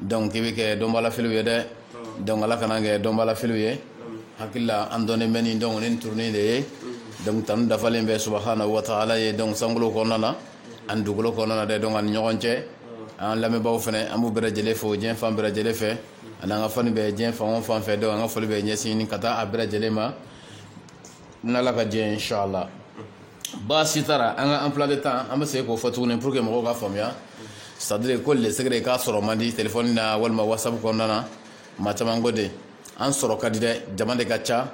donc i bɛ kɛ dɔnbalafiliw ye dɛ donc ala kan'an kɛ dɔnbalafiliw ye hakilila an dɔnnen bɛ nin donc nin turunin de ye donc tanu dafalen bɛ subhanahu wa ta'ala ye donc sankolo kɔnɔna na ani dugukolo kɔnɔna na dɛ donc ani ɲɔgɔn cɛ an lamɛnbaaw fana an b'u bɛɛ lajɛlen fo diɲɛ fan bɛɛ lajɛlen fɛ ani an ka fans bɛ diɲɛ fan o fan fɛ donc an ka foli bɛ ɲɛsinnen ka taa a bɛɛ lajɛlen ma n'ala ka jɛ inshallah baasi t'a la an ka emploi de temps an bɛ segin k'o fɔ tuguni pour que mɔgɔw ka faamuya c'est à dire ko le secret k'a sɔrɔ man di telefɔni na walima whatsapp kɔnɔna na maa caman ko de an sɔrɔ ka di dɛ jama de ka ca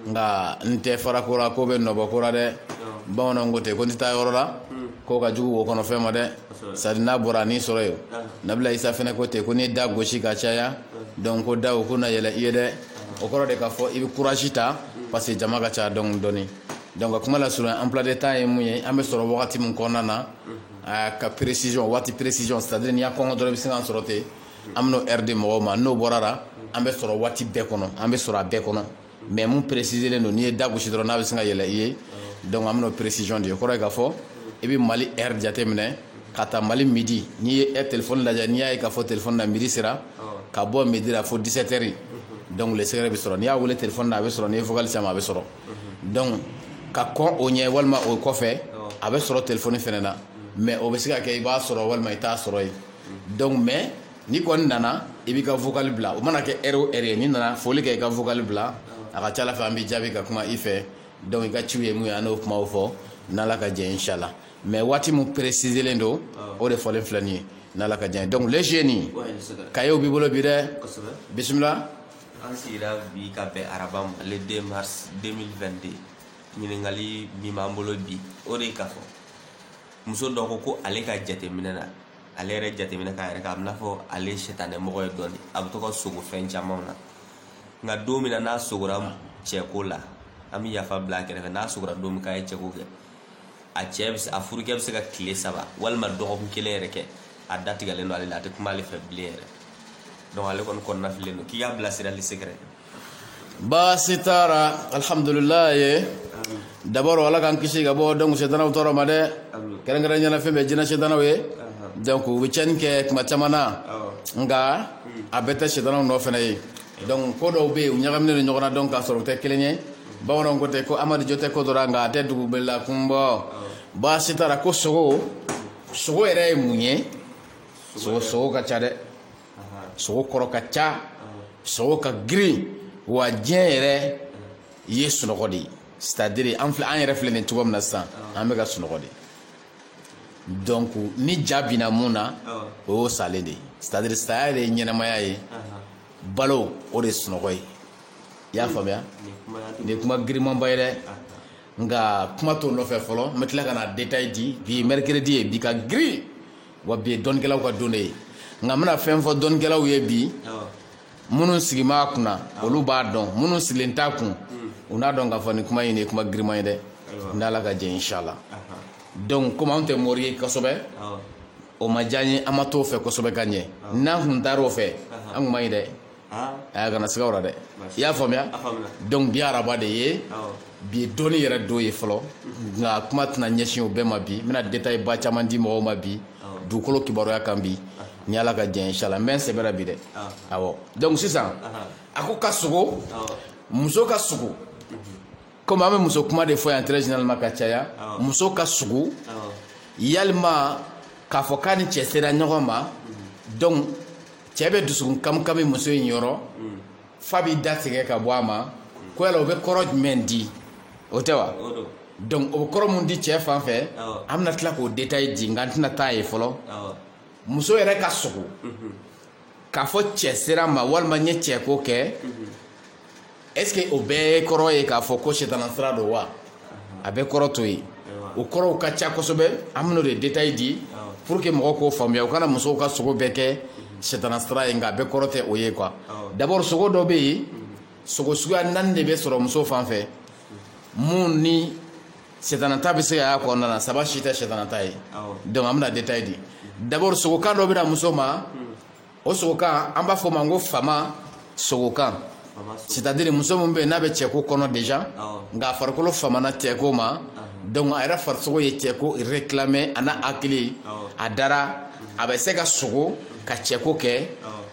nka n tɛ fara ko la k'o bɛ nɔ bɔ ko la dɛ bamananw ko ten ko n tɛ taa yɔrɔ la k'o ka jugu wo kɔnɔ fɛn ma dɛ c'est à dire n'a bɔra a n'i sɔrɔ yen nabila isa fana ko ten ko n'i da gosi ka caya donc ko da ko na yɛlɛ i ye dɛ o kɔrɔ de k'a fɔ i bɛ courage ta parce que jama ka ca donc dɔɔni donc ka kuma lasurunya emploi de temps ye mun ye an bɛ sɔrɔ wagati min kɔnɔna na ka précision waati précision c'est à dire n'i y'a kɔnkɔn dɔrɔn i bɛ sin k'an sɔrɔ ten an bɛn'o heure di mɔgɔw ma n'o bɔra la an bɛ sɔrɔ waati bɛɛ kɔnɔ an bɛ sɔrɔ a bɛɛ kɔnɔ mais min préciselen don n'i ye da gosi dɔrɔn a bɛ sin ka yɛlɛ i ye donc an bɛn'o précision di o kɔrɔ ye k'a fɔ i bɛ Mali heure jateminɛ ka taa mali midi n'i ye telefɔni lajɛ n'i y'a ye k'a fɔ telefɔni na midi sera ka bɔ midi la fo 17 heures donc le secret bɛ sɔrɔ n'i y'a weele telefɔni na a bɛ sɔrɔ n'i vocal sama a bɛ sɔrɔ donc ka kɔn o ɲɛ walima o kɔfɛ a bɛ sɔrɔ telefɔni fana na mais o bɛ se ka kɛ i b'a sɔrɔ walima i t'a sɔrɔ yen donc mais n'i kɔni nana i b'i ka vocal bila o mana kɛ heure o heure n'i nana foli kɛ i ka vocal bila a ka ca la fɛ an b'i jaabi ka kuma i fɛ donc i ka ci ye min ye an n'o kuma fɔ n'ala ka jɛ inshallah mais waati min préciselen don o de fɔlen filɛ nin ye n'ala ka jɛ donc le génie kayew b'i bolo bi dɛ bisimila an sigira bi ka bɛn araba ma le 2 mars 2022 ɲininkali min b'an bolo bi o de ka fɔ muso dɔ ko ko ale ka jateminɛ na ale yɛrɛ jateminɛ na k'a yɛrɛ k'a bɛna fɔ ale sɛtanɛ mɔgɔ ye dɔɔni a bɛ to ka sogo fɛn camanw na nka don min na n'a sogora cɛko la an bɛ yafa bila a kɛrɛfɛ n'a sogora don min k'a ye cɛko kɛ a cɛ a furukɛ bɛ se ka tile saba walima dɔgɔkun kelen yɛrɛ kɛ a da tigɛlen don ale la a tɛ kuma ale fɛ bilen yɛrɛ donc ale kɔni kɔnɔna fililen don k'i k'a bilasira le secret baasi t'a la alhamdulilayi d'abord ala k'an kisi ka bɔ donc setanaw tɔɔrɔ ma dɛ kɛrɛnkɛrɛnnenya na fɛn bɛ jinɛ setanaw ye donc u bɛ tiɲɛni kɛ tuma caman na nka a bɛɛ tɛ setanaw nɔ fana ye donc ko dɔw bɛ yen u ɲagaminen ɲɔgɔn na donc k'a sɔrɔ u tɛ kelen ye bamananw ko ten ko amadi jo tɛ ko dɔ la nka a tɛ dugu bɛɛ la kunbɔ baasi t'a la ko sogo sogo yɛrɛ ye mun ye sogo ka ca dɛ sogo kɔrɔ ka ca sogo ka girin wa diɲɛ yɛrɛ ye sunɔgɔ de ye c'est-à-dire an yɛrɛ filɛ nin cogo min na sisan an bɛ ka sunɔgɔ de donc ni ja binna mun na o y'o salen de ye c'est à dire saya de ye ɲɛnamaya ye balo o de ye sunɔgɔ ye i y'a faamuya nin ye kuma girimanba ye dɛ nka kuma t'o nɔfɛ fɔlɔ n bɛ tila ka na détail di bi ye mercredi ye bi ka girin wa bi ye dɔnnikɛlaw ka don de ye nka n bɛna fɛn fɔ dɔnnikɛlaw ye bi minnu sigilen b'a kunna olu b'a dɔn minnu sigilen t'a kun u n'a dɔn k'a fɔ ni kuma in ye kuma giriman ye dɛ n'ala ka jɛn inshallah donc komi anw tɛ mori ye kosɛbɛ o ma diya an ye an ma t'o fɛ kosɛbɛ ka ɲɛ n'an kun taar'o fɛ an kun b'a ye dɛ a kana siga o la dɛ i y'a faamuya donc bi araba de ye bi ye dɔnni yɛrɛ don ye fɔlɔ nka kuma tɛna ɲɛsin o bɛɛ ma bi n bɛna détail ba caman di mɔgɔw ma bi dugukolo kibaruya kan bi ni ala ka jɛn inshallah n bɛ n sɛbɛ ra bi dɛ awɔ donc sisan a ko ka sugo muso ka sugo komi an bɛ muso kuma de fɔ yan très généralement ka caya muso ka sugo yalima k'a fɔ k'a ni cɛ sera ɲɔgɔn ma donc cɛ bɛ dusukun kamikami muso in yɔrɔ f'a b'i da tigɛ ka bɔ a ma ko yala o bɛ kɔrɔ jumɛn di o tɛ wa donc o bɛ kɔrɔ mun di cɛ fan fɛ an bɛna tila k'o détail di nka n tɛna taa yen fɔlɔ muso yɛrɛ ka sogo mhm. k'a fɔ cɛ sera n ma walima n ye cɛko kɛ mhm. est ce que o bɛɛ kɔrɔ ye k'a fɔ ko sitana sira don wa a bɛɛ kɔrɔ t'o ye o kɔrɔw ka ca kosɛbɛ an bɛn'o de détail di pour que mɔgɔw k'o faamuya u kana musow ka sogo bɛɛ kɛ sitana sira ye nka a bɛɛ kɔrɔ tɛ o ye quoi d'abord sogo dɔ bɛ yen sogo suguya naani de bɛ sɔrɔ muso fan fɛ mun ni setana ta bɛ se ka y'a kɔnɔna na saba si tɛ setana ta ye donc an bɛna détail di d'abord sogokan dɔ bɛ na muso ma o sogokan an b'a fɔ o ma ko fama sogokan c'est-à-dire muso min bɛ yen n'a bɛ cɛko kɔnɔ déjà nka a farikolo famana cɛko ma donc a yɛrɛ farisogo ye cɛko réclamer a n'a hakili a dara a bɛ se ka sogo ka cɛko kɛ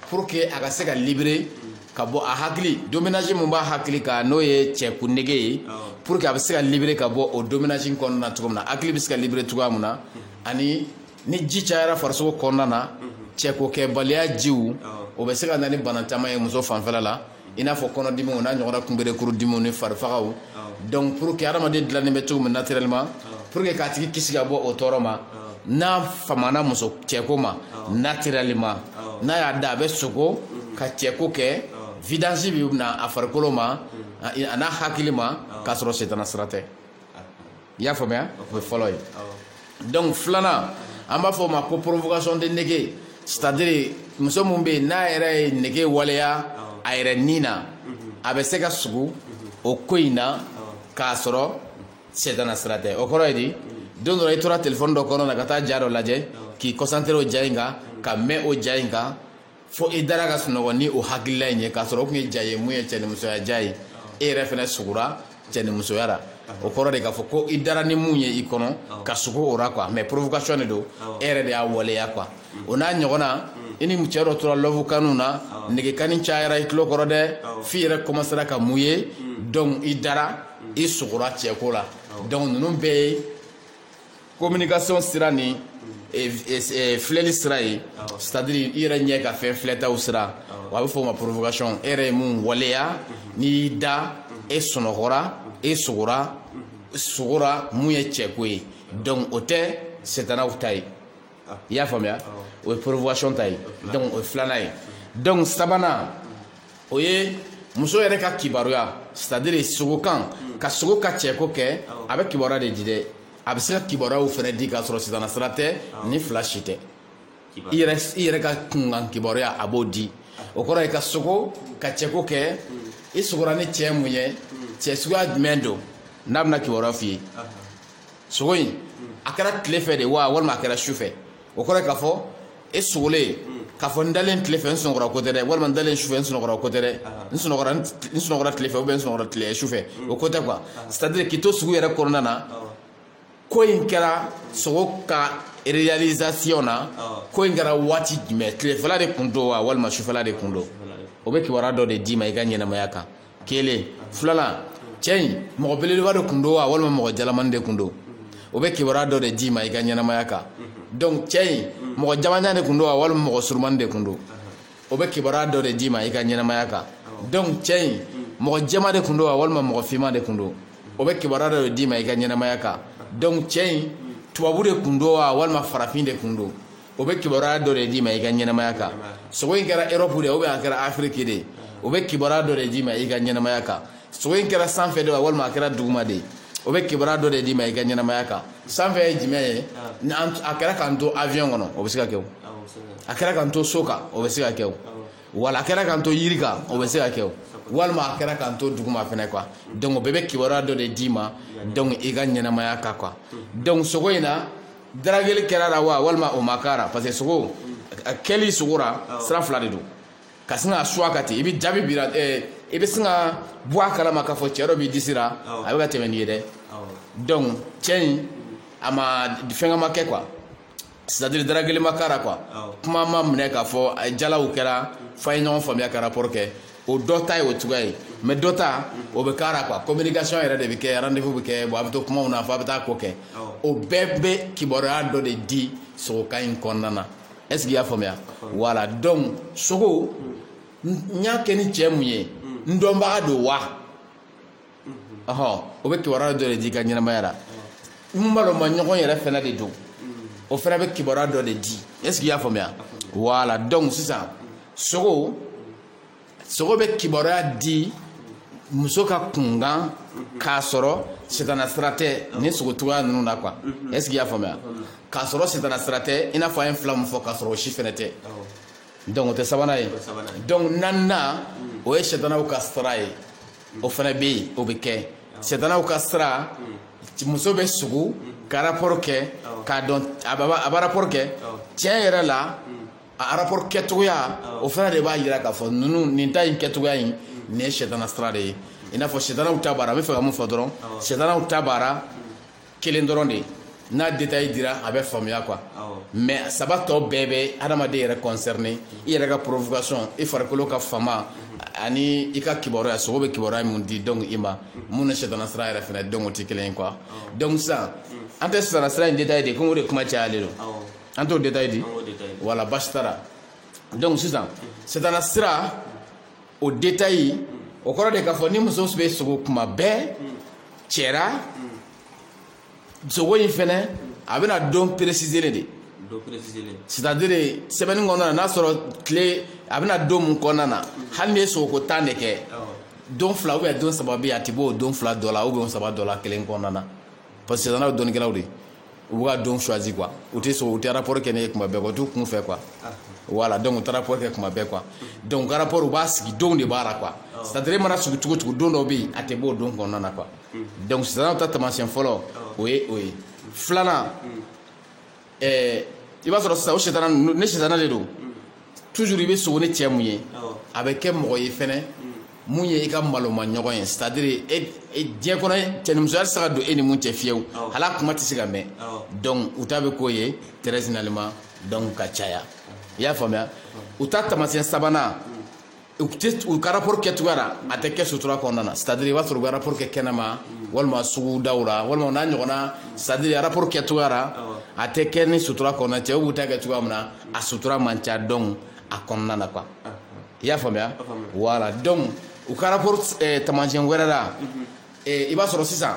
pour que a ka se ka libérer ka bɔ a hakili dominage min b'a hakili kan n'o ye cɛko nege ye pour que a bɛ se ka libérer ka bɔ o dominage kɔnɔna na cogo min na hakili bɛ se ka libérer cogoya min na ani ni ji cayara farisogo kɔnɔna na cɛkokɛbaliya jiw o bɛ se ka na ni bana caman ye muso fanfɛla la i n'a fɔ kɔnɔdimiw n'a ɲɔgɔnna kunberekurudimiw ni farifagaw donc pour que hadamaden dilannen bɛ cogo min naturellement pour que k'a tigi kisi ka bɔ o tɔɔrɔ ma n'a famana muso cɛko ma naturellement n'a y'a da a bɛ sogo ka cɛko kɛ vidange bɛ na a farikolo ma a n'a hakili ma k'a sɔrɔ setana sira tɛ i y'a faamuya o ye fɔlɔ ye donc filanan an b'a fɔ o ma ko provocation de nege c'est à dire muso min bɛ yen n'a yɛrɛ ye nege waleya a yɛrɛ ni na a bɛ se ka sugu o ko in na k'a sɔrɔ setana sira tɛ o kɔrɔ ye di don dɔ rɔ i tora telefɔni dɔ kɔnɔ na ka taa ja dɔ lajɛ k'i concentrer o ja in kan ka mɛn o ja in kan fo i dara ka sunɔgɔ ni o hakilila in ye k'a sɔrɔ o kun ye ja ye mun ye cɛnimusoya ja ye e yɛrɛ fɛnɛ sugura cɛnimusoya la o kɔrɔ de k'a fɔ ko i dara ni mun ye i kɔnɔ ka sugu o ra quoi mais provocation de don e yɛrɛ de y'a waleya quoi o n'a ɲɔgɔnna i ni cɛ dɔ tora love kanw na negekanni cayara i tulo kɔrɔ dɛ f'i yɛrɛ commencera ka mun ye donc i dara i sugura cɛko la donc ninnu bɛɛ ye communication sira ni filɛli sira ye c'est à dire i yɛrɛ ɲɛ ka fɛn filɛtaw sira a bɛ fɔ o ma provocation e yɛrɛ ye mun waleya n'i y'i da e sunɔgɔra e so sogora mun ye cɛko ye donc o tɛ setanaw ta ye i y'a faamuya o ye provocation ta ye donc o ye filanan ye donc sabanan o ye muso yɛrɛ ka kibaruya c'est à dire sogokan ka sogo ka cɛko kɛ a bɛ kibaruya de di dɛ a bɛ se ka kibaruyaw fɛnɛ di k'a sɔrɔ setana sira tɛ nin fila si tɛ i yɛrɛ ka kunkan kibaruya a b'o di o kɔrɔ ye ka sogo ka cɛko kɛ i sogora ni cɛ mun ye cɛ suguya jumɛn don n'a bɛna kibaruya f'i ye sogo in a kɛra tile fɛ de wa walima a kɛra su fɛ o kɔrɔ k'a fɔ e sogolen k'a fɔ n dalen tile fɛ n sunɔgɔra ko tɛ dɛ walima n dalen sufɛ n sunɔgɔra ko tɛ dɛ n sunɔgɔra n sunɔgɔra tile fɛ ou bien n sunɔgɔra tile sufɛ o ko tɛ quoi c'est à dire k'i to sugu yɛrɛ kɔnɔna na ko in kɛra sogo ka réalisation na ko in kɛra waati jumɛn tilefɛla de kun don wa walima sufɛla de kun don o bɛ kibaruya dɔ de d'i ma i ka ɲɛnamaya kan kelen filanan cɛ in mɔgɔ belebeleba de kun don wa walima mɔgɔ jalamani de kun don o bɛ kibaruya dɔ de d'i ma i ka ɲɛnamaya kan donc cɛ in mɔgɔ jamanjan de kun don wa walima mɔgɔ surumani de kun don o bɛ kibaruya dɔ de d'i ma i ka ɲɛnamaya kan donc cɛ in mɔgɔ jɛma de kun don wa walima mɔgɔ finman de kun don o bɛ kibaruya dɔ de d'i ma i ka ɲɛnamaya kan donc cɛ in tubabu de kun don wa walima farafin de kun don o bɛ kibaruya dɔ de d'i ma i ka ɲɛnamaya kan sogo in kɛra Europe de ou bien a kɛra Afrique de o bɛ kibaruya dɔ de d'i ma i ka ɲɛnamaya kan sogo in kɛra sanfɛ de wa walima a kɛra duguma de o bɛ kibaruya dɔ de d'i ma i ka ɲɛnamaya kan sanfɛ ye jumɛn ye ni a kɛra k'an to avion kɔnɔ o bɛ se ka kɛ o a kɛra k'an to so kan o bɛ se ka kɛ o wala a kɛra k'an to yiri kan o bɛ se ka kɛ o walima a kɛra k'an to duguma fɛnɛ quoi donc o bɛɛ bɛ kibaruya dɔ de d'i ma donc i ka ɲɛnamaya kan quoi donc sogo in na darageli kɛr'a la wa walima o ma k'a ra parce que sogo kɛli sogo ra sira fila de don ka sin ka suwa ka ten i bɛ jaabi bira i bɛ sin ka bɔ a kalama k'a fɔ cɛ dɔ b'i disi la a bɛ ka tɛmɛ n'i ye dɛ donc cɛ in a ma fɛnkɛ ma kɛ quoi c'est-à-dire darageli ma k'a ra quoi kuma ma minɛ k'a fɔ jalaw kɛra f'a ye ɲɔgɔn faamuya ka rapport kɛ o dɔ ta ye o cogoya ye mais dɔ ta o bɛ k'a ra quoi communication yɛrɛ de bɛ kɛ rendez-vous bɛ kɛ bon a bɛ to kumaw na fo a bɛ taa ko kɛ o bɛɛ bɛ kibaruya dɔ de di sogokan in kɔnɔna na est ce que i y'a faamuya voilà donc sogo n y'a kɛ ni cɛ mun ye n dɔnbaga don wa ɔhɔn o bɛ kibaruya dɔ de di i ka ɲɛnamaya la n maloma ɲɔgɔn yɛrɛ fana de don o fana bɛ kibaruya dɔ de di est-ce que i y'a faamuya voilà donc sisan sogo sogo bɛ kibaruya di muso ka kunkan k'a sɔrɔ sitana sira tɛ ni sogo cogoya ninnu na quoi est-ce que i y'a faamuya k'a sɔrɔ sitana sira tɛ i n'a fɔ an ye fila min fɔ k'a sɔrɔ o si fana tɛ donc o tɛ sabanan ye donc naaninan o ye sitanaw ka sira ye o fana bɛ yen o bɛ kɛ sitanaw ka sira muso bɛ sugo ka rapport kɛ k'a dɔn a bɛ rapport kɛ tiɲɛ yɛrɛ la a rapport kɛcogoya o fana de b'a jira k'a fɔ ninnu nin ta in kɛcogoya in nin ye sitana sira de ye i n'a fɔ sitanaw ta baara n bɛ fɛ ka mun fɔ dɔrɔn sitanaw ta baara kelen dɔrɔn de n'a détail dira a bɛ faamuya quoi mais saba tɔ bɛɛ bɛ adamaden yɛrɛ concerné i yɛrɛ ka provocation i farikolo ka fama ani i ka kibaruya sogo bɛ kibaruya mun di donc i ma mun ni sitana sira yɛrɛ fana donc o tɛ kelen ye quoi donc sisan an tɛ sitana sira in détail de komi o de kuma cayalen don an t'o détail di wala basi t'a la donc sisan sitana sira o détail o kɔrɔ de k'a fɔ ni muso bɛ sogo kuma bɛɛ cɛ ra sogo in fana a bɛ na don précisé de c'est-à-dire semaine in kɔnɔna n'a sɔrɔ tile a bɛ na don mun kɔnɔna na hali n'i ye sogo ko tan de kɛ don fila ou bien don saba bɛ yen a tɛ b'o don fila dɔ la ou bien saba dɔ la kelen kɔnɔna na parce que sitanaw dɔnnikɛlaw de u bɛ ka don choisi quoi u tɛ sɔn u tɛ rapport kɛ n'e ye kuma bɛɛ quoi u t'u kun fɛ quoi voilà donc u tɛ rapport kɛ kuma bɛɛ quoi donc u ka rapport u b'a sigi donw de b'a la quoi c'est à dire e mana sugo cogo cogo don dɔw bɛ yen a tɛ bɔ o don kɔnɔna na quoi donc sitanaw ta taamasiyɛn fɔlɔ o ye o ye filanan. ɛɛ i b'a sɔrɔ sisan o sitana ni sitana de don toujours i bɛ sogo ni cɛ mun ye Awɔ. a bɛ kɛ mɔgɔ ye fɛnɛ mun ye i ka maloma ɲɔgɔn ye c'est à dire e e- diɲɛ kɔnɔ cɛnimusoya tɛ se ka don e ni mun cɛ fiyewu Awɔ. hali a kuma tɛ se ka mɛn Awɔ. donc u ta bɛ k'o ye très généralement donc ka caya i y'a faamuya u ta taamasiyɛn sabanan u ka rapport kɛ cogoya la a tɛ kɛ sutura kɔnɔna na c'est à dire i b'a sɔrɔ u bɛ rapport kɛ kɛnɛma walima sugu daw la walima o n'a ɲɔgɔnna c'est à dire rapport kɛ cogoya la a tɛ kɛ ni sutura kɔnɔna cɛw b'u ta kɛ cogoya min na a sutura man ca donc a kɔnɔna na quoi i y'a faamuya voilà donc u ka rapport eh, taamasiyɛn wɛrɛ la eh, i b'a sɔrɔ sisan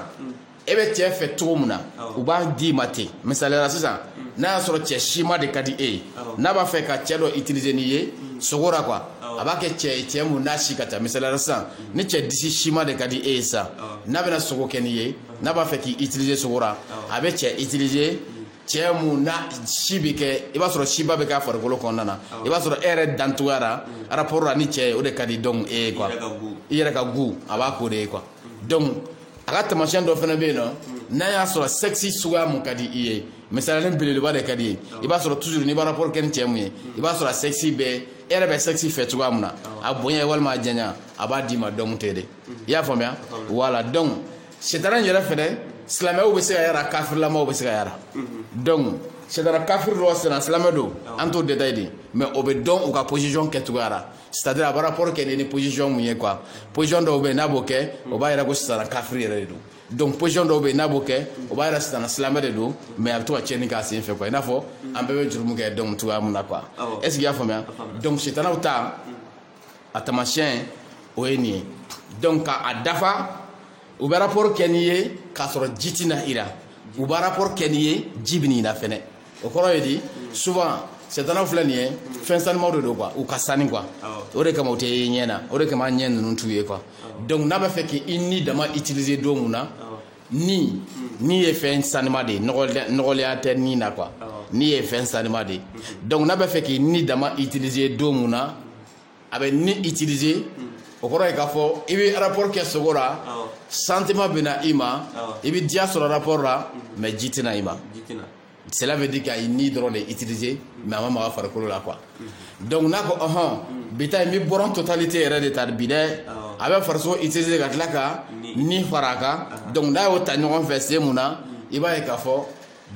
e bɛ cɛ fɛ cogo min na u b'a d'i ma ten misaliya la sisan n'a y'a sɔrɔ cɛ sima de ka di e ye n'a b'a fɛ ka cɛ dɔ utiliser n'i ye sogo la quoi a b'a kɛ cɛ cɛ mun na si ka ca misaliya la sisan ni cɛ disi sima de ka di e ye sisan n'a bɛna sogo kɛ n'i ye n'a b'a fɛ k'i utiliser sogo la a bɛ cɛ utiliser cɛ mun na si bɛ kɛ i b'a sɔrɔ siba bɛ k'a farikolo kɔnɔna na i b'a sɔrɔ e yɛrɛ dancogoya la rapport la ni cɛ ye o de ka di donc e ye quoi i yɛrɛ ka goût a b'a k'o de ye quoi donc a ka taamasiyɛn dɔ fana bɛ yen nɔ n'a y'a sɔrɔ sexe suguya mun ka di i ye misaliya la belebeleba de ka d'i ye i b'a sɔrɔ toujours n'i bɛ rapport kɛ ni cɛ mun ye i b'a sɔrɔ a sexe bɛ e yɛrɛ bɛ sexe fɛ cogoya mun na a bonya walima a janya a b'a d'i ma donc ten de i y'a faamuya voilà donc setana yɛrɛ fɛnɛ silamɛw bɛ se ka yara kafirilamaw bɛ se ka yara donc setana kafiri don setana silamɛ don an t'o détail dɛ mais o bɛ dɔn u ka position kɛcogoya la c'est à dire a bɛ rapport kɛ ni position mun ye quoi position dɔw bɛ yen n'a b'o kɛ o b'a yira ko setana kafiri yɛrɛ de don donc position dɔw bɛ yen n'a b'o kɛ o b'a yira setana silamɛ de don mais a bɛ to ka tiɲɛni k'a sen fɛ quoi i n'a fɔ an bɛɛ bɛ jurumu kɛ donc cogoya mun na quoi est ce que i y'a faamuya donc setanaw ta a taamasiyɛn o ye nin ye donc ka a dafa u bɛ rapport kɛ n'i ye k'a sɔrɔ ji tɛ na i la u bɛ rapport kɛ n'i ye ji bɛ n'i la fɛnɛ o kɔrɔ ye di souvent sɛtanaw filɛ nin ye fɛn sanimaw de don quoi u ka sani quoi o de kama u tɛ ye ɲɛ na o de kama ɲɛ ninnu t'u ye quoi donc n'a b'a fɛ k'i ni dama utiliser don mun na ni ni ye fɛn sanima de ye nɔgɔlenya tɛ ni na quoi ni ye fɛn sanima de ye donc n'a b'a fɛ k'i ni dama utiliser don mun na a bɛ ni utiliser o kɔrɔ ye k'a fɔ i bɛ rapport kɛ sogo la sentiment bɛ na i ma i bɛ diya sɔrɔ rapport la mais ji tɛ na i ma cela veut dire k'a y'i ni dɔrɔn de utiliser mais a ma maga farikolo la quoi donc n'a ko ɔhɔn bi ta n bɛ bɔra totalité yɛrɛ de ta bi dɛ a bɛ farisogo utiliser ka tila ka ni fara a kan donc n'a y'o ta ɲɔgɔn fɛ sen mun na i b'a ye k'a fɔ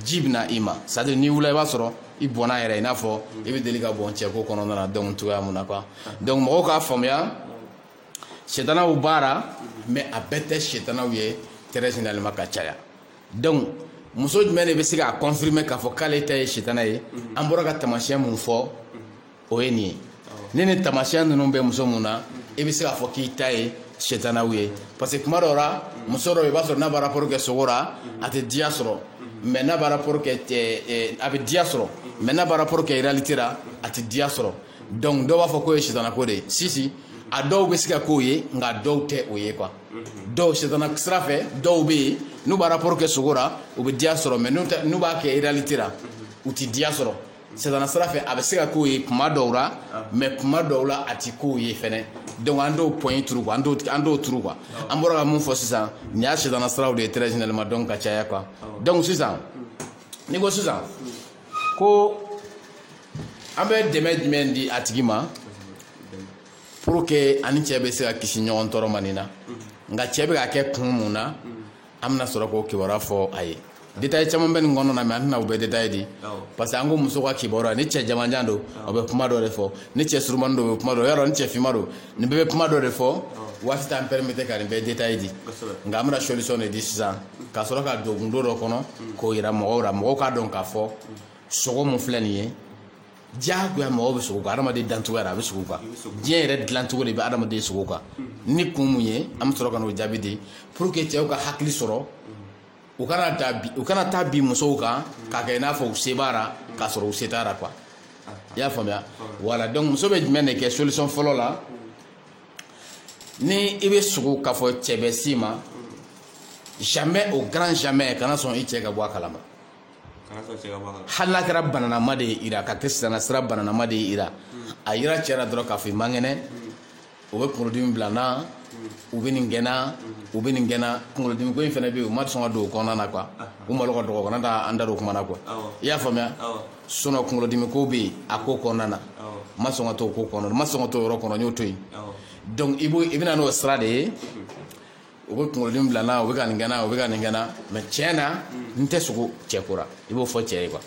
ji bɛ na i ma c'est à dire n'i wulila i b'a sɔrɔ i bɔnna yɛrɛ i n'a fɔ i bɛ deli ka bɔn cɛko kɔnɔna na donc cogoya mun na quoi donc mɔgɔw k'a faamuya setanaw baara mais a bɛɛ tɛ setanaw ye très généralement ka caya donc muso jumɛn de bɛ se k'a confirmer k'a fɔ k'ale ta ye setana ye an bɔra ka taamasiyɛn mun fɔ o ye nin ye ni ni taamasiyɛn ninnu bɛ muso min na i bɛ se k'a fɔ k'i ta ye sɛtanaw ye parce que kuma dɔw la muso dɔ i b'a sɔrɔ n'a b'a rapport kɛ sugo la a tɛ diya sɔrɔ mais n'a b'a rapport kɛ a bɛ diya sɔrɔ mais n'a b'a rapport kɛ réalité la a tɛ diya sɔrɔ donc dɔw b'a fɔ k'o ye sɛtanako de ye si si a dɔw bɛ se ka k'o ye nka dɔw tɛ o ye quoi dɔw sɛtana sira fɛ dɔw bɛ yen n'u b'a rapport kɛ sugo la u bɛ diya sɔrɔ mais n'u b'a kɛ réalité la u tɛ diya sɔrɔ Sɛtana sira fɛ a bɛ se ka k'o ye kuma dɔw la mais kuma dɔw la a tɛ k'o ye fana donc an t'o point in turu an t'o turu quoi an bɔra ka mun fɔ sisan nin y'a sɛtana siraw de ye très généralement donc ka caya quoi donc sisan ni ko sisan ko an bɛ dɛmɛ jumɛn di a tigi ma pour que a ni cɛ bɛ se ka kisi ɲɔgɔn tɔɔrɔ ma nin na nka cɛ bɛ ka kɛ kun mun na an bɛna sɔrɔ k'o kibaruya fɔ a ye détail caman bɛ nin kɔnɔna na mais an tɛna o bɛɛ détail di parce que an ko muso ka kibaruya ni cɛ jamanjan don o bɛ kuma dɔ de fɔ ni cɛ surumani don o bɛ kuma dɔ yɔrɔ ni cɛ finman don nin bɛɛ bɛ kuma dɔ de fɔ waati t'an permettre ka nin bɛɛ détail di nka an bɛna solution de di sisan ka sɔrɔ ka don gundo dɔ kɔnɔ k'o jira mɔgɔw la mɔgɔw k'a dɔn k'a fɔ sugo mun filɛ nin ye diyagoya mɔgɔ bɛ sugo kan adamaden dancogo yɛrɛ a bɛ sugo kan diɲɛ yɛrɛ dilancogo de bɛ adamaden sugo kan ni kun mun ye an bɛ sɔrɔ ka n'o jaabi di pour que cɛw ka hakili sɔrɔ u kana da bi u kana taa bin musow kan k'a kɛ i n'a fɔ u se b'a la k'a sɔrɔ u se t'a la quoi i y'a faamuya voilà donc muso bɛ jumɛn de kɛ solution fɔlɔ la ni i bɛ sugo k'a fɔ cɛ bɛ s'i ma jamais au grand jamais kana sɔn i cɛ ka bɔ a kalama hali n'a kɛra bananama de ye i ra ka kɛ sisan sira bananama de ye i ra a yira cɛ la dɔrɔn k'a fɔ i man kɛnɛ o bɛ kunkolodimi bila n na u bɛ nin gɛnna u bɛ nin gɛnna kunkolodimi ko in fana bɛ yen u ma sɔn ka don o kɔnɔna na quoi u malo ka dɔgɔ kana taa an da don o kuma na quoi i y'a faamuya sinon kunkolodimi ko bɛ yen a ko kɔnɔna na ma sɔn ka don o ko kɔnɔ ma sɔn ka don o yɔrɔ kɔnɔ n y'o to yen donc i b'o i bɛna n'o sira de ye u bɛ kunkolodimi bila n na u bɛ ka nin gɛnna u bɛ ka nin gɛnna mais tiɲɛ na mm. n tɛ sugo cɛ ko la i b'o fɔ cɛ ye quoi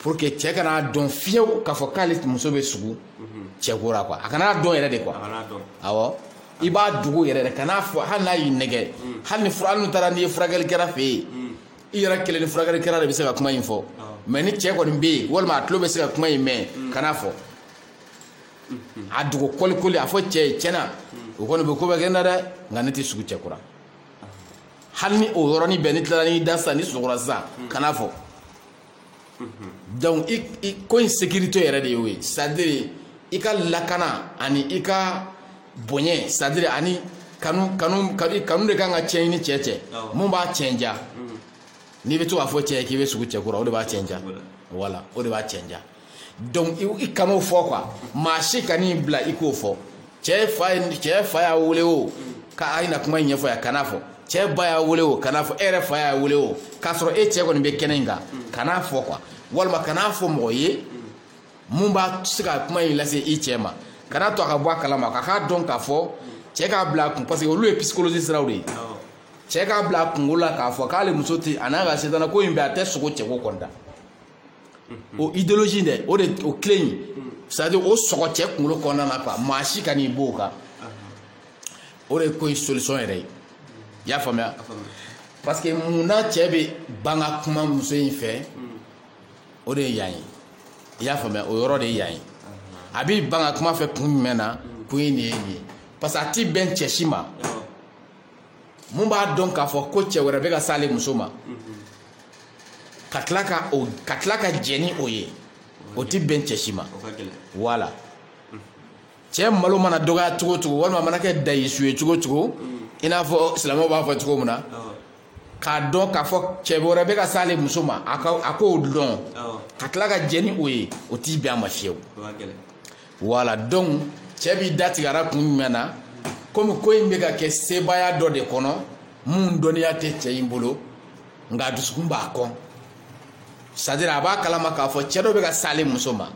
pour que cɛ kan'a dɔn fiyewu k'a fɔ k'ale muso bɛ sugo mm-hmm. cɛ ko la quoi a kan'a dɔn yɛrɛ de quoi awɔ i b'a dogo yɛrɛ de kan'a fɔ hali n'a y'i nɛgɛn mm. hali ni fura hali n'u taara n'i ye furakɛlikɛla fɛ yen mm. i yɛrɛ kelen ni furakɛlikɛla de bɛ se ka kuma in fɔ mais ni cɛ kɔni bɛ yen walima a tulo bɛ se ka kuma in mɛn kan'a fɔ a dogo kɔlikɔli a fɔ cɛ ye tiɲɛ na o kɔni bɛ ko bɛ kɛ n na dɛ nka ne tɛ sugo cɛ ko la hali ni o yɔrɔnin bɛɛ n'i tilala n'i da sisan n'i sunɔgɔra sisan kan'a fɔ donc i i ko in sécurité yɛrɛ de y'o ye c'est à dire i ka lakana ani i ka bonya c'est à dire ani kanu kanu kanu kanu de kana cɛn ni cɛ cɛ mun b'a cɛn ja n'i bɛ to k'a fɔ cɛ ye k'i bɛ sugo cɛ ko la o de b'a cɛn ja voilà o de b'a cɛn ja. donc i kan'o fɔ quoi maa si kan'i bila i k'o fɔ cɛ fa cɛ fa y'a wele o k'a na kuma ɲɛfɔ yan kan'a fɔ cɛ ba y'a wele o kan'a fɔ e yɛrɛ fa y'a wele o k'a sɔrɔ e cɛ kɔni bɛ kɛnɛ in kan kan'a fɔ quoi walima kan'a fɔ mɔgɔ ye mun b'a se ka kuma in lase i cɛ ma kan'a to a ka bɔ a kalama ka k'a dɔn k'a fɔ cɛ k'a bila a kun parce que olu ye psychologie siraw de ye cɛ k'a bila a kunkolo la k'a fɔ k'ale muso tɛ a n'a ka setana ko in bɛ a tɛ sogo cɛko kɔnda o idéologie dɛ o de o clé in c'est à dire o sɔgɔ cɛ kunkolo kɔnɔna na quoi maa si kan'i b'o kan o de ye ko in solution yɛrɛ ye i y'a faamuya parce que mun na cɛ bɛ ban ka kuma muso in fɛ o de ye yan ye i y'a faamuya o yɔrɔ de ye yan ye a b'i ban ka kuma fɛ kun jumɛn na kun in de ye nin ye parce que a ti bɛn cɛ si ma. mun b'a dɔn k'a fɔ ko cɛ wɛrɛ bɛ ka s'ale muso ma ka tila ka jɛ ni o ye o ti bɛn cɛ si ma voilà cɛ malo mana dɔgɔya cogo cogo walima mana kɛ dayisu ye cogo cogo i n'a fɔ silamɛw b'a fɔ cogo min na k'a dɔn k'a fɔ cɛ wɛrɛ bɛ ka s'ale muso ma a k'o dɔn ka tila ka jɛ ni o ye o ti bɛn a ma fiyewu voilà donc cɛ b'i da tig'a ra kun jumɛn na komi ko in bɛ ka kɛ sebaaya dɔ de kɔnɔ mun dɔnniya tɛ cɛ in bolo nka a dusukun b'a kɔn c'est à dire a b'a kalama k'a fɔ cɛ dɔ bɛ ka s'ale muso ma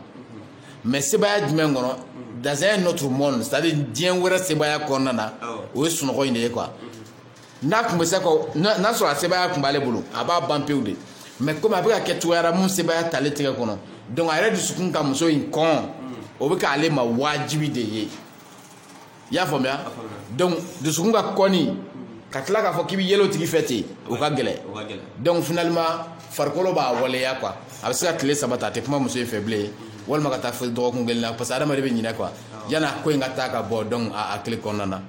mais sebaaya jumɛn kɔnɔ dans un autre monde c'est à dire diɲɛ wɛrɛ sebaaya kɔnɔna na o ye sunɔgɔ in de ye quoi n'a kun bɛ se ka n'a sɔrɔ a sebaaya kun b'ale bolo a b'a ban pewu de mais komi a bɛ ka kɛ cogoya ra mun sebaaya t'ale tigɛ kɔnɔ donc a yɛrɛ dusukun ka muso in kɔn o bɛ k'ale ma wajibi de ye i y'a faamuya donc dusukun k'a kɔn i ka tila k'a fɔ k'i bɛ yɛlɛ o tigi fɛ ten o ka gɛlɛn donc finalement farikolo b'a waleya quoi a bɛ se ka tile saba ta a tɛ kuma muso in fɛ bilen walima ka taa fo dɔgɔkun kelen na parce que adamaden bɛ ɲinɛ quoi yanni a ko in ka taa ka bɔ donc a hakili kɔnɔna na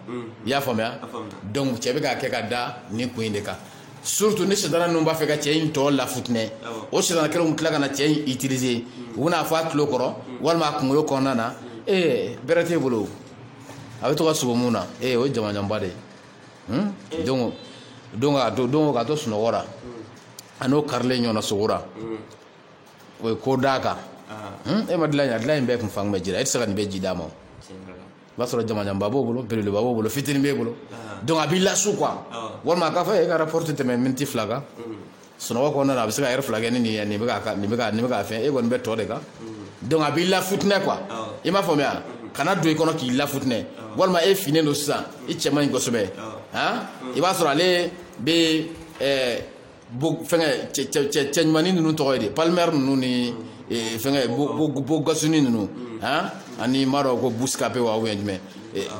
i y'a faamuya donc cɛ bɛ k'a kɛ ka da nin kun in de kan surtout ni setana ninnu b'a fɛ ka cɛ in tɔ lafutinɛ o setana kelenw tila ka na cɛ in utiliser u bɛn'a fɔ a tulo kɔrɔ walima a kunkolo kɔnɔna na ee bɛrɛ t'e bolo a bɛ to ka sogo min na ee o ye jamanjanba de ye donc ka to sunɔgɔ ra a n'o karilen ɲɔgɔn na sogo ra o ye ko d'a kan hmm, e ma dilan in a dilan in bɛɛ kun fan bɛ jira e tɛ se ka nin bɛɛ ji d'a ma o b'a sɔrɔ jamanjanba b'o bolo belebeleba b'o bolo fitini b'e bolo donc a b'i lasu quoi walima a k'a fɔ e ka rapport tɛ tɛmɛ miniti fila kan sunɔgɔ kɔnɔna na a bɛ se ka heure fila kɛ ni nin ye nin bɛ ka nin bɛ ka nin bɛ ka fɛn e kɔni bɛ tɔ de kan donc a b'i lafutinɛ quoi i m'a faamuya ka na don i kɔnɔ k'i lafutinɛ walima e finnen don sisan i cɛ man ɲi kosɛbɛ han i b'a sɔrɔ ale bɛ ɛɛ fɛn cɛ ɲuman ninnu tɔgɔ ye di palmer ninnu ni fɛn beau garçon ninnu ani n m'a dɔn ko buskape wa jumɛn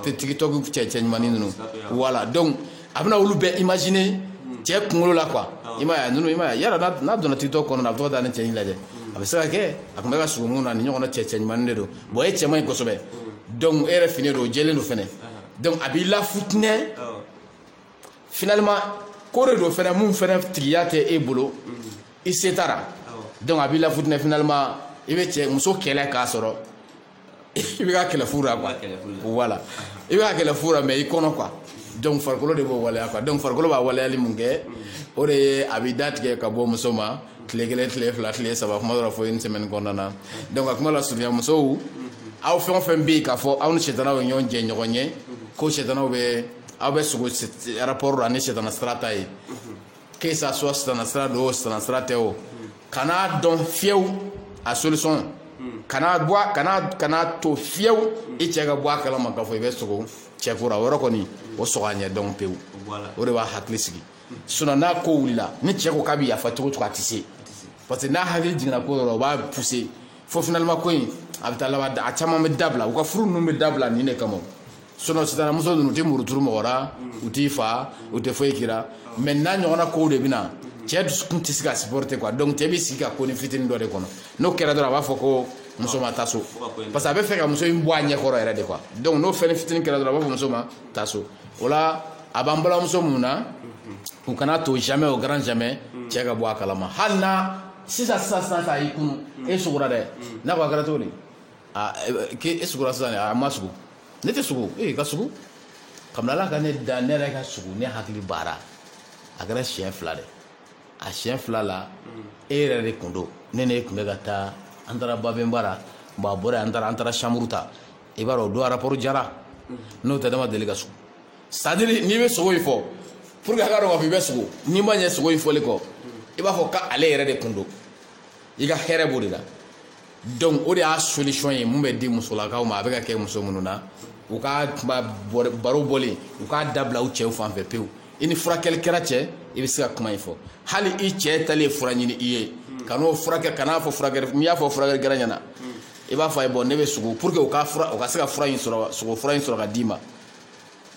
tiktok cɛ cɛ ɲuman ninnu voilà donc a bɛna olu bɛɛ imaginer cɛ kunkolo la quoi i ma n yala n'a donna tiktok kɔnɔ a bɛ da ni cɛ in lajɛ a bɛ se ka kɛ a tun bɛ ka sugu min na nin ɲɔgɔnna cɛ cɛ ɲuman de don bon e cɛ man ɲi kosɛbɛ e yɛrɛ fin don jɛlen don fana donc a b'i lafutinɛ finalement ko o de don fana mun fɛntigiya tɛ e bolo i se t'a ra donc a b'i lafutinɛ finalement i bɛ cɛ muso kɛlɛ k'a sɔrɔ i bɛ ka kɛlɛ fu la quoi voilà i bɛ ka kɛlɛ fu la mais i kɔnɔ quoi donc farikolo de b'o waleya quoi donc farikolo b'a waleyali mun kɛ o de ye a b'i da tigɛ ka bɔ muso ma tile kelen tile fila tile saba kuma dɔ la fo une semaine kɔnɔna na donc a kuma lasurunya musow aw fɛn o fɛn bɛ yen k'a fɔ aw ni sitanaw ye ɲɔgɔn jɛɲɔgɔn ye ko sitanaw bɛ aw bɛ sogo rapport la ni sitana sira ta ye que ça soit sitana sira don o sitana sira tɛ o kan'a dɔn fiyew a solution kana bɔ kana kana to fiyew i cɛ ka bɔ a kalama k'a fɔ i bɛ sogo cɛ kura o yɔrɔ kɔni o sɔgɔ a ɲɛ dɔn pewu o de b'a hakili sigi sinon n'a ko wulila ni cɛ ko k'a bɛ yafa cogo o cogo a tɛ se parce que n'a hakili jiginna ko yɔrɔ o b'a pousser fo finalement ko in a bɛ taa laban a caman bɛ dabila u ka furu ninnu bɛ dabila nin de kama sinon sisan muso ninnu u tɛ muruturu mɔgɔ la u t'i fa u tɛ foyi k'i ra mais n'a ɲɔgɔnna kow de bɛ na cɛ dusukun tɛ se ka supporter quoi donc cɛ bɛ sigi ka konin fitinin dɔ de kɔnɔ n'o kɛra dɔrɔn a b'a fɔ ko muso ma taa so parce que a bɛ fɛ ka muso in bɔ a ɲɛ kɔrɔ yɛrɛ de quoi donc n'o fɛn fitinin kɛra dɔrɔn a b'a fɔ muso ma taa so o la a b'an balimamuso minnu na u kana to jamais au grand jamais cɛ ka bɔ a kalama hali na sisan sisan sisan sisan a y'i kunu e sugura dɛ n'a ko a kɛra cogo di. k'e sugura sisan a ma sugu ne tɛ sugu ee ka sugu kabini ala ka ne da ne yɛrɛ ka sugu ne hakili b'a ra a kɛra siɲɛ fila de a siɲɛ fila la e yɛrɛ de kun don ne ne tun bɛ ka taa an taara babenba ra bon a bɔra an taara an taara chambre ta i b'a dɔn o don rapport diyara n'o tɛ ne ma deli ka sugu c'est-à-dire n'i bɛ sogo in fɔ pour que a ka dɔn k'a fɔ i bɛ sogo n'i ma ɲɛ sogo in fɔli kɔ i b'a fɔ k'ale yɛrɛ de kun don i ka hɛrɛ b'o de la donc o de y'a solution ye mun bɛ di musolakaw ma a bɛ ka kɛ muso minnu na u ka kuma baro bɔlen u k'a dabila u cɛw fan fɛ pewu i ni furakɛlikɛla cɛ i bɛ se ka kuma in fɔ hali i cɛ taalen fura ɲini i ye ka n'o furakɛ ka n'a fɔ furakɛ n'i y'a fɔ furakɛlikɛla ɲɛ na i b'a fɔ a ye bon ne bɛ sogo pour que u ka fura u ka se ka fura in sɔrɔ sogo fura in sɔrɔ ka d'i ma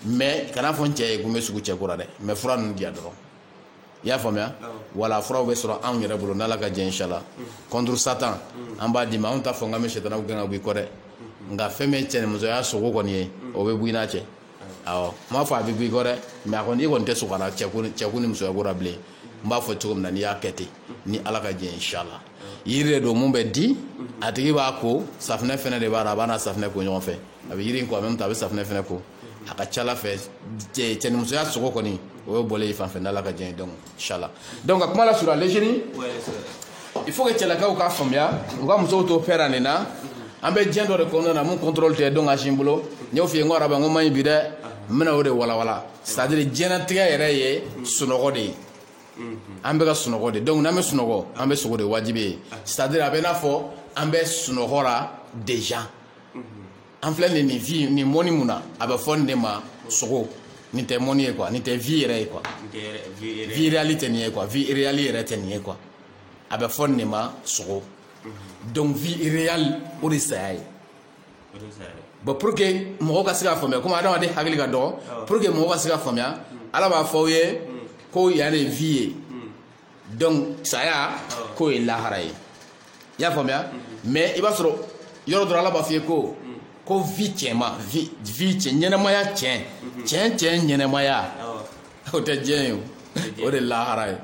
mais kan'a fɔ n cɛ ye ko n bɛ sogo cɛ kura dɛ mais fura ninnu diya dɔrɔn i y'a faamuya voilà furaw bɛ sɔrɔ anw yɛrɛ bolo n'ala ka jɛ inshala contre satan an b'a d'i ma anw t'a fɔ k'an bɛ sitanaw gɛn ka b'i kɔ dɛ nka fɛn min ye cɛnimusoya sogo kɔni ye o bɛ bɔ i n'a cɛ awɔ n m'a fɔ a bɛ bɔ i kɔ dɛ mais a kɔni i kɔni tɛ sɔn ka na cɛko ni musoya ko la bilen n b'a fɔ cogo min na n'i y'a kɛ ten ni ala ka jɛ inshala yiri de don mun bɛ di a tigi b'a ko safinɛ fɛnɛ de b'a la a b'a n'a safinɛ ko ɲɔgɔn fɛ a bɛ yiri in ko a bɛ a bɛ safinɛ fɛnɛ ko a ka ca fɛ cɛnimusoya sogo kɔni o ye bɔlen i fan fɛ n'ala ka jɛ inshala donc ka kuma la sur les jeunes il faut que cɛlakaw k'a faamuya u ka musow to pɛ nin na an bɛ diɲɛ dɔ de kɔnɔna na mun contrôle tɛ dɔn ka sin bolo n y'o f'i ye n ko araba ko man ɲi bi dɛ n bɛna o de walanwalan c'est à dire diɲɛlatigɛ yɛrɛ ye sunɔgɔ de ye an bɛ ka sunɔgɔ de donc n'an bɛ sunɔgɔ an bɛ sogo de wajibi ye c'est à dire a bɛ n'a fɔ an bɛ sunɔgɔ la déjà an filɛ nin nin vie nin monde mun na a bɛ fɔ nin de ma sogo nin tɛ monde ye quoi nin tɛ vie yɛrɛ ye quoi vie réelle tɛ nin ye quoi vie réelle yɛrɛ tɛ nin ye quoi a bɛ fɔ nin de ma sogo donc vie réelle o de saya ye bon pour que mɔgɔw ka se k'a faamuya komi adamaden hakili ka dɔgɔ pour que mɔgɔw ka se k'a faamuya ala b'a fɔ aw ye ko yan de vie ye donc saya k'o ye lahara ye i y'a faamuya mais i b'a sɔrɔ yɔrɔ dɔ rɔ ala b'a f'i ye ko ko vie cɛnma vie vie cɛn ɲɛnɛmaya cɛn cɛn cɛn ɲɛnɛmaya o tɛ diɲɛ ye o de lahara ye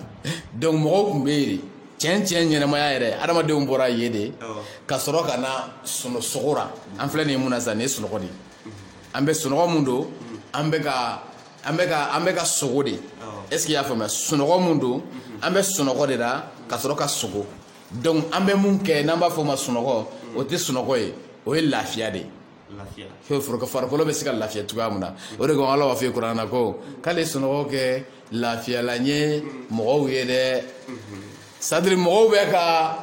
donc mɔgɔw tun bɛ yen de cɛn cɛn ɲɛnɛmaya yɛrɛ adamadenw bɔra yen de ka sɔrɔ ka na sogo ra an filɛ nin ye mun na sisan nin ye sunɔgɔ de ye an bɛ sunɔgɔ mun don an bɛ ka an bɛ ka an bɛ ka sogo de est ce que i y'a faamuya sunɔgɔ mun don an bɛ sunɔgɔ de la ka sɔrɔ ka sogo donc an bɛ mun kɛ n'an b'a fɔ o ma sunɔgɔ o tɛ sunɔgɔ ye o ye lafiya de ye farikolo bɛ se ka lafiya cogoya min na o de ko ala b'a fɔ kuran na ko k'ale sunɔgɔ kɛ lafiyalan ye mɔgɔw ye dɛ c'est à dire mɔgɔw bɛ ka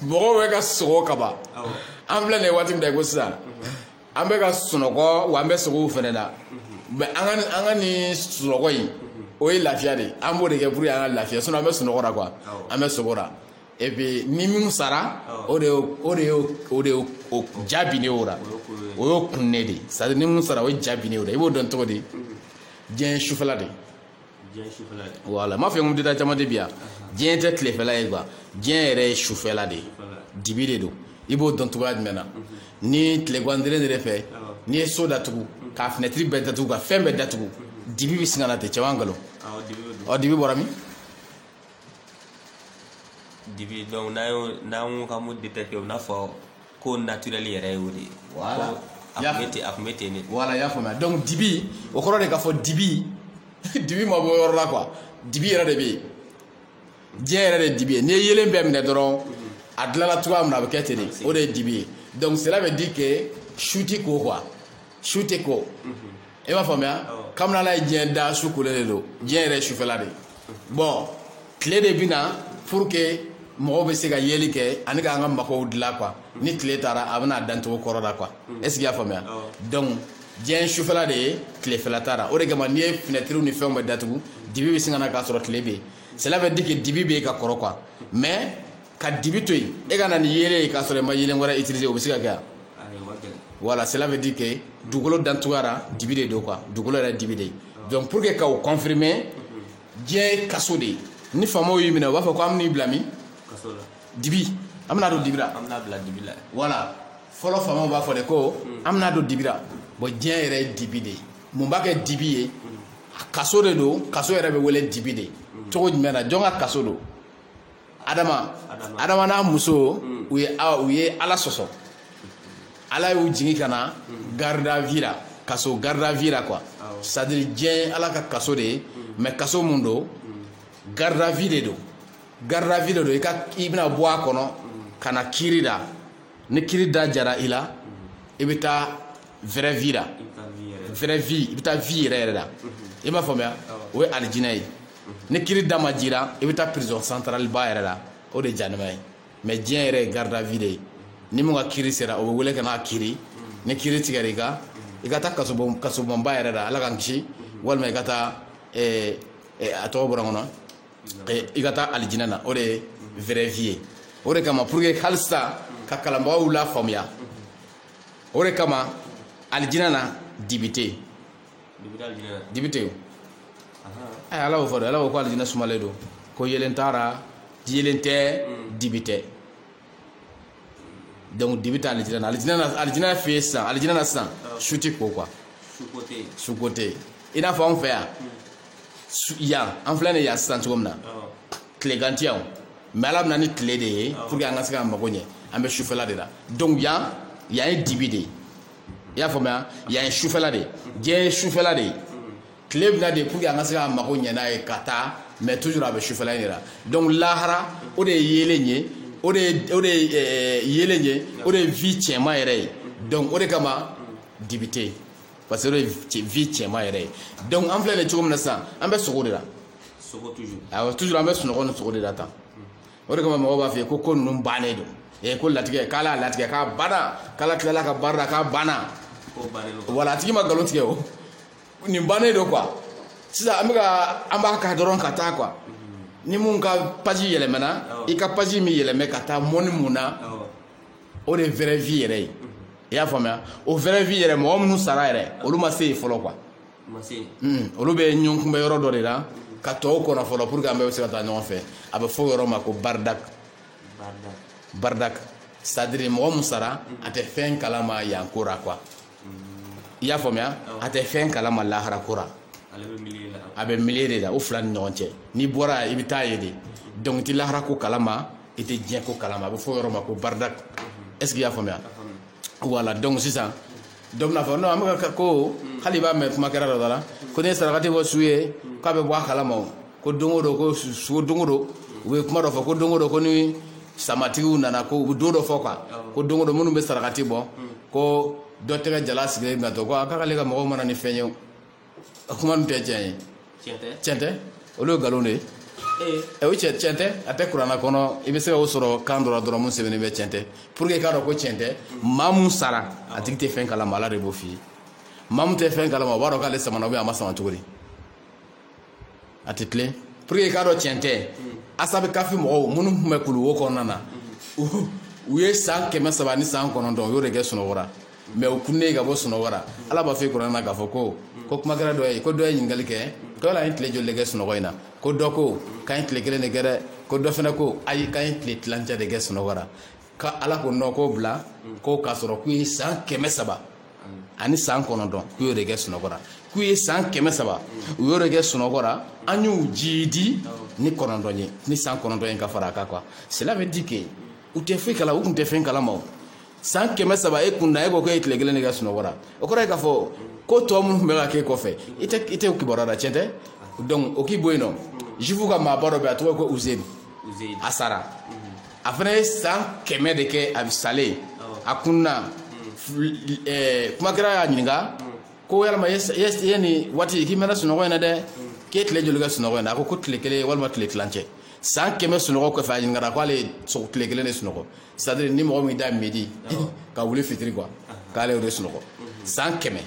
mɔgɔw bɛ ka sogo kaban an filɛ nin ye waati min na i ko sisan an bɛ ka sunɔgɔ wa an bɛ sogow fɛnɛ la mais an ka nin sunɔgɔ in o ye lafiya de an b'o de kɛ pour que an ka lafiya sinon an bɛ sunɔgɔ la quoi an bɛ sogo la et puis ni minnu sara o de o de o de o ja bin ne o la o y'o kunnen de c'est à dire ni minnu sara o ja bin ne o la i b'o dɔn cogo di diɲɛ sufɛla de voilà n m'a fɔ n ko détail caman de bi yan diɲɛ tɛ tilefɛla ye quoi diɲɛ yɛrɛ ye sufɛla de ye dibi de don i b'o dɔn cogoya jumɛn na ni tilegan dere de fɛ n'i ye so datugu k'a finɛtiri bɛɛ datugu ka fɛn bɛɛ datugu dibi bɛ sin ka na ten cɛn wa nkalon ɔ dibi bɔra min dibi donc n'an y'o n'an ko k'an b'o détecter o n'a fɔ ko naturel yɛrɛ ye o de ye voilà a tun bɛ ten a tun bɛ ten de voilà y'a faamuya donc dibi o kɔrɔ de k'a fɔ dibi dibi ma bɔ yɔrɔ la quoi dibi yɛrɛ de bɛ yen diɲɛ yɛrɛ de dibi ye n'i ye yelen bɛɛ minɛ dɔrɔn a dilanna cogoya min na a bɛ kɛ ten de o de ye dibi ye donc cela veut dire que su tɛ ko quoi su tɛ ko. i b'a faamuya kabini ala ye diɲɛ da su kolen de don diɲɛ yɛrɛ sufɛla de bon tile de bɛ na pour que mɔgɔw bɛ se ka yeli kɛ ani k'an ka makow dilan quoi ni tile taara a bɛ na a dancogo kɔrɔ la quoi est-ce que y'a faamuya donc diɲɛ sufɛla de ye tilefɛla t'a ra o de kama n'i ye finɛtiriw ni fɛnw bɛɛ datugu dibi bɛ sin ka na k'a sɔrɔ tile bɛ yen cela veut dire que dibi bɛ yen ka kɔrɔ quoi mais ka dibi to yen e ka na ni yeelen ye k'a sɔrɔ i ma yeelen wɛrɛ utiliser o bɛ se ka kɛ wa voilà cela veut dire que dugukolo dancogoya ra dibi de don quoi dugukolo yɛrɛ dibi de ye donc pour que ka o confirmer diɲɛ ye kaso de ye ni faamaw y'i minɛ u b'a fɔ ko an bɛn'i bila min dibi an bɛna don dibira an bɛna bila dibi la voilà fɔlɔ faamaw b'a fɔ de ko an bɛna don dibira bon diɲɛ yɛrɛ ye dibi de ye mun b'a kɛ dibi ye kaso de don kaso yɛrɛ bɛ wele dibi de ye cogo jumɛn na jɔn ka kaso don adama adama n'a muso hmm. u ye u ye ala sɔsɔ ala y'u jigin ka na hmm. garde à vue la kaso garde à vue la quoi c'est-à-dire diɲɛ ala ka kaso de ye hmm. mais kaso mun don garde à vue de don garde à vue de don i ka i bɛna bɔ a kɔnɔ ka na kiri da ni kiri da diyara i la i bɛ taa vraie vie la vraie vie i bɛ taa vie yɛrɛ yɛrɛ la i m'a faamuya o ye alijinɛ ye ni kiri da ma diya i ra i bɛ taa prison centrale ba yɛrɛ la o de jahanama ye mais diɲɛ yɛrɛ ye garde à vue de ye ni min ka kiri sera o bɛ wele ka n'a kiri ni kiri tigɛra i ka i ka taa kasobonba yɛrɛ la ala k'an kisi walima i ka taa eh, eh, a tɔgɔ bɔra n kɔnɔ eh, i ka taa alijinɛ na o de ye vraie vie ye o de kama pour que halisa ka kalanbagaw lafaamuya o de kama alijinɛ na dibi tɛ dibi tɛ yen a ye ala y'o fɔ dɛ ala ko ko alijinɛ sumalen don ko yelen t'a ra yelen tɛ dibi tɛ donc dibi tɛ alijinɛ na alijinɛ na alijinɛ fɛ yen sisan alijinɛ na sisan su tɛ ko quoi su ko tɛ yen i n'a fɔ anw fɛ yan yan an filɛ nin yan sisan cogo min na tilegan tɛ yan mais ala bɛ na ni tile de ye pour que an ka se k'an mago ɲɛ an bɛ sufɛla de la donc yan yan ye dibi de ye i y'a faamuya yan ye sufɛla de ye diɲɛ ye sufɛla de ye tile bɛ na de pour que an ka se k'an mago ɲɛ n'a ye ka taa mais toujours a bɛ sufɛla in de la donc lahara o de ye yeelen ye o de ye o de ye eh, yeelen ye o de ye vie cɛman yɛrɛ ye donc o de kama dibi tɛ yen parce que o de ye cɛ- vie cɛman yɛrɛ ye donc an filɛ nin ye cogo min na sisan an bɛ sogo de la sogo toujours awɔ toujours an bɛ sunɔgɔ ni sogo de la tan o de kama mɔgɔw b'a f'i ye ko ko ninnu bannen don ee ko latigɛ k'ala y'a latigɛ k'a banna k'ala tilala ka baara la k'a banna voilà a tigi ma nkalon tigɛ o nin bannen don quoi sisan an bɛ ka an b'a ka dɔrɔn ka taa quoi ni mun ka page yɛlɛmɛna i ka page min yɛlɛmɛ ka taa monde mun na o de ye vraie vie yɛrɛ ye i y'a faamuya o vraie vie yɛrɛ mɔgɔ minnu sara yɛrɛ olu ma se yen fɔlɔ quoi olu bɛ ɲɔgɔn kunbɛ yɔrɔ dɔ de la ka tɔw kɔnɔ fɔlɔ pour que an bɛɛ bɛ se ka taa ɲɔgɔn fɛ a bɛ fɔ o yɔrɔ ma ko baridak baridak c'est-à-dire mɔgɔ min sara a tɛ fɛn kalama yan ko ra quoi i y'a faamuya a tɛ fɛn kalama lahara ko ra a bɛ milieu de la o fila ni ɲɔgɔn cɛ n'i bɔra i bɛ taa yen de donc i tɛ lahara ko kalama i tɛ diɲɛ ko kalama a bɛ fɔ o yɔrɔ ma ko baridak est ce que i y'a faamuya voilà donc sisan dɔ bɛna fɔ non an bɛ ka ko hali i b'a mɛn kumakɛra dɔ da la ko n'i ye sarakati bɔ su ye k'a bɛ bɔ a kalama o ko don o don ko su don o don u bɛ kuma dɔ fɔ ko don o don ko ni samatigiw nana ko u bɛ don dɔ fɔ quoi ko don o don minnu bɛ sarakati bɔ ko dɔ tɛgɛ jalan sigilen bɛ to ko a k'ale ka mɔgɔw ma na ni fɛn ye a kuma ninnu tɛ tiɲɛ ye tiɲɛ tɛ olu ye nkalon de ye ee ɛ o cɛ tiɲɛ tɛ a tɛ kuranna kɔnɔ i bɛ se ka o sɔrɔ kan dɔ la dɔrɔn mun sɛbɛnnen bɛ tiɲɛ tɛ pour que i k'a dɔn ko tiɲɛ tɛ maa mun sara a tigi tɛ fɛn kalama ala de b'o f'i ye maa mun tɛ fɛn kalama o b'a dɔn k'ale samana ou bien a ma sama cogo di a tɛ tilen pour que i k'a dɔn tiɲɛ tɛ asabi kafi mɔgɔw minnu tun bɛ kuluwo kɔnɔna na u- u ye san kɛmɛ saba ni san kɔnɔntɔn u y'o de kɛ sunɔgɔ ra mais u kunnen ka bɔ sunɔgɔ ra ala b'a fɔ i ye kuranna na k'a fɔ ko ko kumakɛra dɔ ye ko dɔ ye ɲininkali kɛ ko yala an ye tile joli de kɛ sunɔgɔ in na ko dɔ ko k'an ye tile kelen de kɛ dɛ ko dɔ fana ko ayi k'an ye tile tilancɛ de kɛ sunɔgɔ ra ka ala ko non k'o bila ko k'a sɔrɔ k'u ye san kɛmɛ saba ani san kɔnɔntɔn k'u y'o de kɛ sunɔgɔ ra k'u ye san kɛmɛ saba u y'o de kɛ sunɔgɔ ra an y'u jiidi ni kɔnɔntɔn ye ni san kɔnɔntɔn ye ka fara a kan quoi cela veut dire que u tɛ foyi kala u tun tɛ fɛn kalama o san kɛmɛ saba e kun na e ko k'e ye tile kelen de kɛ sunɔgɔ ra o kɔrɔ ye k'a fɔ ko tɔ minnu tun bɛ ka k'e kɔfɛ i tɛ i tɛ kibaruya la tiɲɛ tɛ donc o k'i bɔ yen nɔ juif ka maaba dɔ bɛ yen a tɔgɔ ye ko uzeyir a sara a fana ye san kɛmɛ de kɛ a salen a kunna kumakɛra y'a ɲininka ko yalama ye nin waati k'i mɛnna sunɔgɔ in na dɛ k'e tile joli kɛ sunɔgɔ in na a ko ko tile kelen walima tile tilancɛ san kɛmɛ sunɔgɔ kɔfɛ a ɲininkara k'ale ye tile kelen de sunɔgɔ c'est-à-dire ni mɔgɔ min da midi ka wuli fitiri quoi k'ale o de sunɔgɔ san kɛmɛ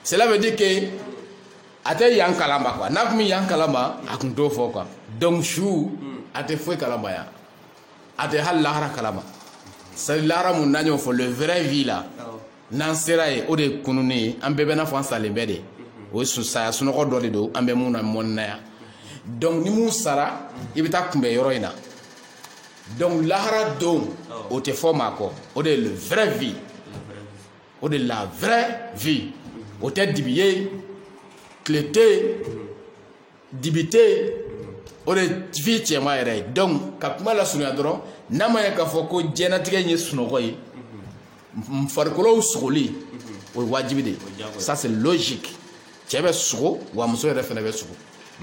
cela veut dire que a tɛ yan kalama quoi n'a kun bɛ yan kalama a kun t'o fɔ quoi donc su a tɛ foyi kalama yan a tɛ hali lahara kalama c'est à dire lahara mun n'an y'o fɔ le vrai vie la n'an sera yen o de ye kununi ye an bɛɛ bɛ n'a fɔ an salen bɛ de o ye saya sunɔgɔ dɔ de don an bɛ mun na mɔni na yan donc ni mun sara i bɛ taa kunbɛn yɔrɔ in na donc lahara don o tɛ fɔ maa kɔ o de ye le vrai vie o de la vraie vie o tɛ dibi ye tile tɛ dibi tɛ o de vie cɛma yɛrɛ ye donc ka kuma lasurunya dɔrɔn n'a ma ye k'a fɔ ko diɲɛlatigɛ in ye sunɔgɔ ye farikolow sogoli o ye wajibi de ye ça c'est logique cɛ bɛ sogo wa muso yɛrɛ fana bɛ sogo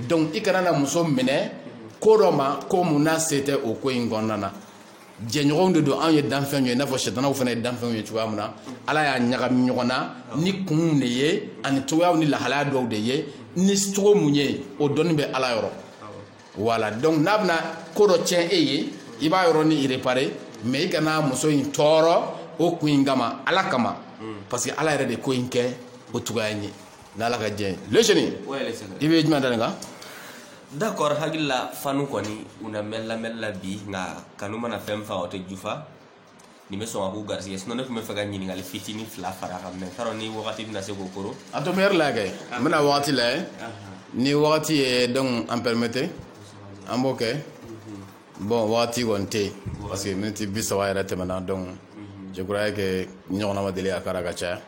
donc i kana na muso minɛ ko dɔ ma ko mun n'a se tɛ o ko in kɔnɔna na jɛɲɔgɔnw de don anw ye danfɛnw ye i n'a fɔ sɛtanaw fana ye danfɛnw ye cogoya min na ala y'a ɲagami ɲɔgɔn na ni kunw de ye ani cogoyaw ni lahalaya dɔw de ye ni cogo mun ye o dɔnni bɛ ala yɔrɔ voilà donc n'a bɛna ko dɔ tiɲɛ e ye i b'a yɔrɔ ni i réparer mais i kana muso in tɔɔrɔ o kun in kama ala kama parce que ala yɛrɛ de ko in kɛ o cogoya in ye n'ala ka jɛ leseni i bɛ jumɛn dalen kan d'accord hakili la fanu kɔni u na mɛn lamɛnni la bi nka kanu mana fɛn fa o tɛ jufa nin bɛ sɔn ka k'u garisɛgɛ sinon ne tun bɛ fɛ ka ɲininkali fitini fila fara a kan mais n t'a dɔn ni wagati bɛna se k'o koro a to mɛri la kɛ n bɛna wagati lajɛ ni wagati ye donc an permettre an b'o kɛ bon waati kɔni tɛ yen parce que miniti bi saba yɛrɛ tɛmɛna donc je croyais que ɲɔgɔnna ma deli a kɛra ka caya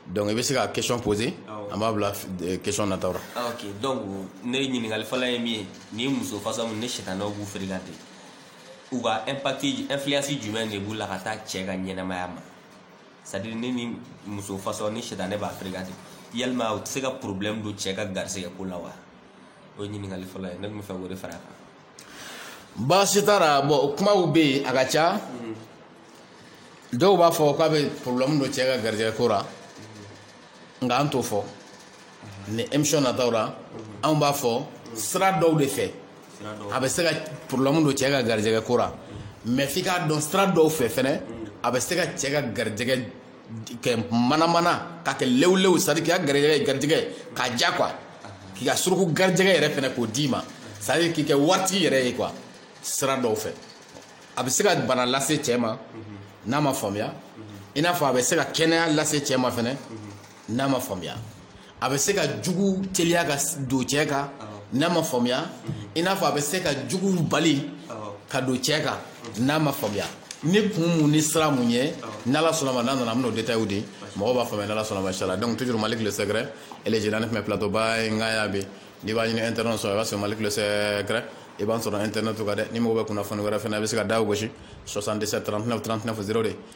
donc i bɛ se ka question poser an b'a bila eh, question nataw la ah, ok donc ne ɲininkali fɔlɔ ye min ye ni muso fasa min ne sɛtanaw b'u fréquenter u ka impact influence jumɛn de b'u la ka taa cɛ ka ɲɛnamaya ma c'est à dire ne ni muso fasa ni sɛtanɛ b'a fréquenter yalima u tɛ se ka problème don cɛ ka garisɛgɛ ko la wa o ye ɲininkali fɔlɔ ye ne tun bɛ fɛ k'o de fara a kan baasi t'a la bon kumaw bɛ yen a ka ca dɔw b'a fɔ k'a bɛ problème don cɛ ka garijɛgɛ ko la nka an t'o fɔ ni émission nataw la anw b'a fɔ sira dɔw de fɛ a bɛ se ka problème don cɛ ka garijɛgɛ ko la mais f'i k'a dɔn sira dɔw fɛ fɛnɛ a bɛ se ka cɛ ka garijɛgɛ kɛ manamana ka kɛ lewulew c'est à dire k'i ka garijɛgɛ k'a ja quoi k'i ka suruku garijɛgɛ yɛrɛ fɛnɛ k'o d'i ma c'est à dire k'i kɛ waritigi yɛrɛ ye quoi sira dɔw fɛ a bɛ se ka bana lase cɛɛ ma n'a ma faamuya i n'a fɔ a bɛ se ka kɛnɛya lase cɛɛ ma fɛnɛ n'a ma faamuya a bɛ se ka jugu teliya ka don cɛ kan n'a ma faamuya i n'a fɔ a bɛ se ka jugu bali ka don cɛ kan n'a ma faamuya ni kun mun ni sira mun ye n'ala sɔnnama n'a nana an bɛn'o détail di mɔgɔw b'a faamuya n'ala sɔnnama inchallah donc toujours Malick le secret et les génies mais plateau ba ye nka y'a bɛ n'i b'a ɲini internet sɔrɔ i b'a sɔrɔ Malick le secret i b'an sɔrɔ internet kan dɛ ni mɔgɔ bɛ kunnafoni wɛrɛ fana i bɛ se ka daw gosi 77 39 39 02